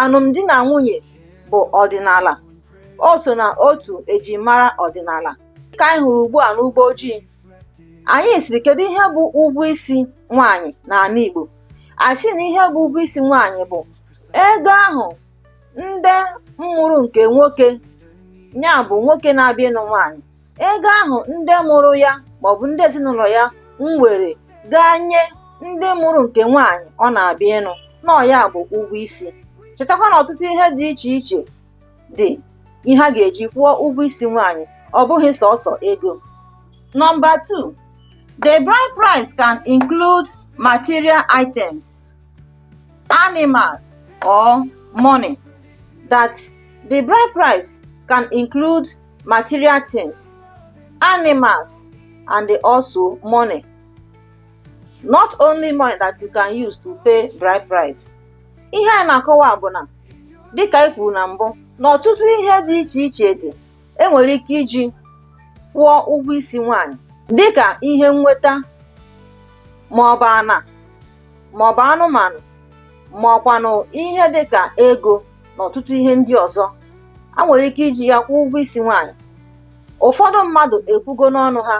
Alụmdi na nwunye bụ ọdịnala. O so na otu ejimara ọdịnala. Ka anyị hụrụ ugbu a n'ụgbọ ojii. Anyị sịrị kedu ihe bụ ụgwọ isi nwaanyị n'ana Igbo? A sị na ihe bụ ụgwọ isi nwaanyị bụ ego ahụ ndị mụrụ nke nwoke ya bụ nwoke na-abịa ịnụ nwaanyị ego ahụ ndị mụrụ ya maọbụ ndị ezinụlọ ya nwere gaa nye ndị mụrụ nke nwaanyị ọ na-abịa ịnụ na ọ ya bụ ụgwọ isi chetakwa na ọtụtụ ihe dị iche iche dị ihe a ga-eji kwụọ ụgwọ isi nwaanyị ọ bụghị sọsọ ego number 2 the bride price can include material items animals or money that the bride price can include material things, animals, and also money. Not only money that you can use to pay bride price. Ihe anyị na-akọwa bụ na dịka anyị kwuru na mbụ na ọtụtụ ihe dị iche iche dị enwere ike iji kwụọ ụgwọ isi nwanyị dịka ihe nnweta maọbụ ana maọbụ anụmanụ maọkwanụ ihe dịka ego na ọtụtụ ihe ndị ọzọ a nwere ike iji ya kwụọ ụgwọ isi nwaanyị ụfọdụ mmadụ ekwugo n'ọnụ ha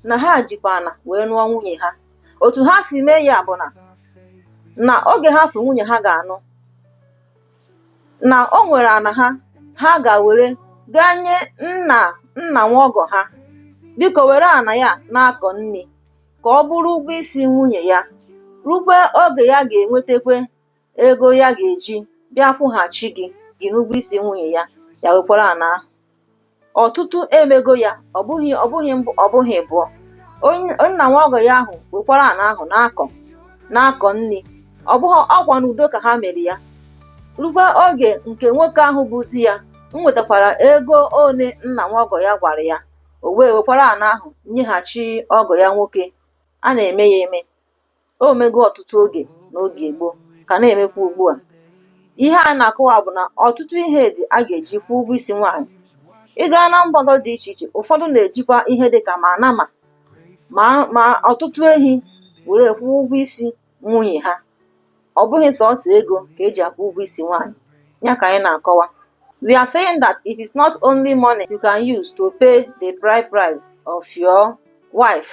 na ha jikwa ana wee nụọ nwunye ha otu ha si mee ya bụ na na oge ha fụ nwunye ha ga-anụ na o nwere ana ha ha ga-ewere gaa nye nna nna nwa ọgọ ha biko were ana ya na-akọ nni ka ọ bụrụ ụgwọ isi nwunye ya rukwe oge ya ga-enwetakwe ego ya ga-eji bịa kwụghachi gị gị n'ụgwọ isi nwunye ya ya wekwara ana ahụ ọtụtụ emego ya ọ bụghị ọ bụghị mbụ ọ bụghị ịbụọ onye nna nwa ọgọ ya ahụ wekwara ana ahụ na-akọ na-akọ nni ọ bụghị ọkwa n'udo ka ha mere ya rukwa oge nke nwoke ahụ bụ di ya nwetakwara ego one nna nwa ọgọ ya gwara ya o wee wekwara ana ahụ nyeghachi ọgọ ya nwoke a na-eme ya eme o mego ọtụtụ oge n'oge gboo ka na-emekwa ugbu a ihe anyị na-akọwa bụ na ọtụtụ ihe dị a ga-eji kwụọ ụgwọ isi nwaanyị ị gaa na mba ọzọ dị iche iche ụfọdụ na-ejikwa ihe dị ka ma nama ma ma ọtụtụ ehi were kwụọ ụgwọ isi nwunye ha ọ bụghị sọsọ ego ka eji akwụ ụgwọ isi nwaanyị ya ka anyị na-akọwa we are saying that it is not only money you can use to pay the bride price of your wife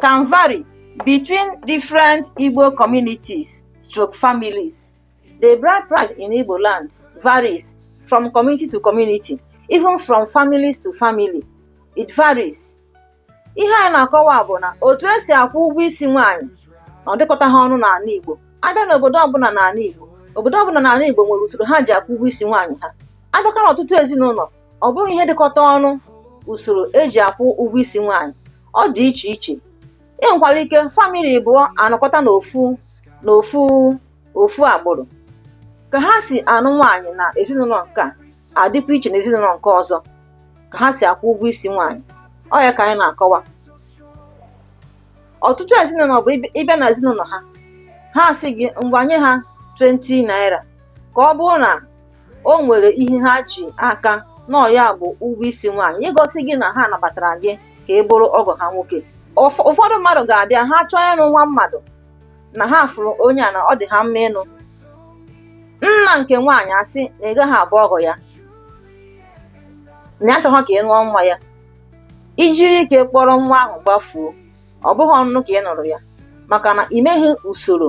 can vary between different Igbo communities stroke families. The bride price in Igbo land varies from community to community, even from families to family. It varies. Ihe anyị na-akọwa bụ na otu esi akwụ ụgwọ isi nwaanyị na ọ dịkọtaha ọnụ n'ala Igbo abịa n'obodo ọbụla n'ala Igbo obodo ọbụla n'ala Igbo nwere usoro ha ji akwụ ụgwọ isi nwaanyị ha abịakwa n'ọtụtụ ezinụlọ ọ bụghị ihe dịkọta ọnụ usoro eji akwụ ụgwọ isi nwaanyị ọ dị iche iche e nwekwara ike family abụọ anọkọta n'ofu agbụrụ ka ha si anụ nwaanyị na ezinụlọ nke a adịkwa iche na ezinụlọ nke ọzọ ka ha si akwụ ụgwọ isi nwaanyị ọ ya ka anyị na-akọwa ọtụtụ ezinụlọ bụ ịbịa na ezinụlọ ha ha sị gị ngwa nye ha 20 naira ka ọ bụrụ na o nwere ihe ha ji aka na ọ ya bụ ụgwọ isi nwaanyị igosi gị na ha nabatara gị ka ị bụrụ ọgọ ha nwoke ụfọdụ mmadụ ga-abịa ha chọọ ịnụ nwa mmadụ na ha fụrụ onye a na ọ dị ha mma ịnụ nna nke nwaanyị asị na ị gaghị abụ ọgọ ya na ya achọghọ ka ị nụọ nwa ya i jiri ike kpọrọ nwa ahụ gbafuo ọ bụghị ọnụnụ ka ị nụrụ ya maka na ị meghị usoro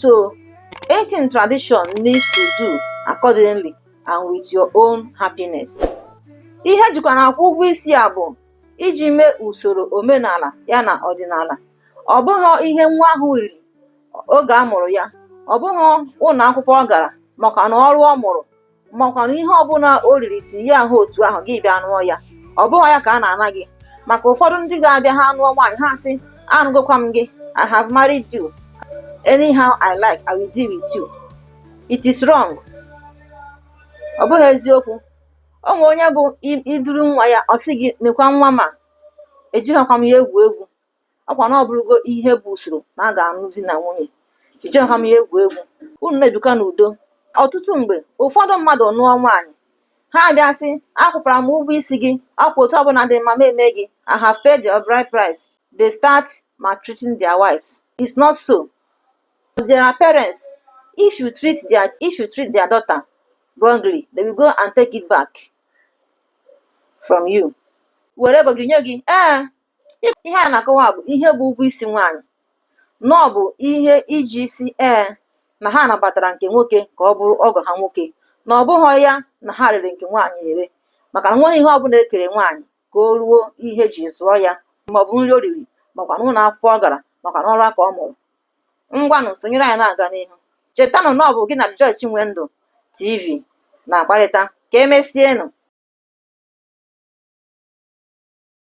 So anything tradition needs to do accordingly and with your own happiness. Ihe ejikwa na-akwụ ụgwọ isi a bụ iji mee usoro omenala ya na ọdịnala. Ọ bụghị ihe nwa ahụ riri oge a mụrụ ya, ọ bụghị ụlọ akwụkwọ ọ gara makwa na ọrụ ọ mụrụ makwanụ ihe ọbụla o riri tinye ahụ otu ahụ gị bịa nụọ ya ọ bụghị ya ka a na-ana gị maka ụfọdụ ndị ga-abịa ha nụọ nwaanyị ha sị anụgokwa m gị I have married you anyhow I like I will deal with you it is wrong ọ bụghị eziokwu o nwere onye bụ i duru nwa ya ọ sị gị nekwa nwa m a ejighịkwa m ya egwu egwu ọkwa na ọ bụrụgo ihe bụ usoro na a ga-anụ di na nwunye ejiha m ya egwu egwu unu na-ebikwa n'udo ọtụtụ mgbe ụfọdụ mmadụ nụọ nwaanyị ha abịa sị akwụkwara m ụgwọ isi gị ọkwa otu ọbụla dị mma m eme gị I have paid your bride price they start maltreating their wives it's not so there are parents if you treat their if you treat their daughter wrongly they will go and take it back from you were ego gị nye gị ee ihe a na-akọwa bụ ihe bụ ụgwọ isi nwaanyị na ọ bụ ihe eji sị ee na ha nabatara nke nwoke ka ọ bụrụ ọgọ ha nwoke na ọ bụghị ya na ha rere nke nwaanyị ere maka na enweghị ihe ọbụla ekere nwaanyị ka o ruo ihe eji zụọ ya maọbụ nri o riri makwa na ụlọ akwụkwọ ọ gara makwa na ọrụ aka ọ mụrụ ngwanụ sonyere anyị na-aga n'ihu chetanụ na ọ bụ gị na Joy Chinwendu TV na-akparịta ka emesienụ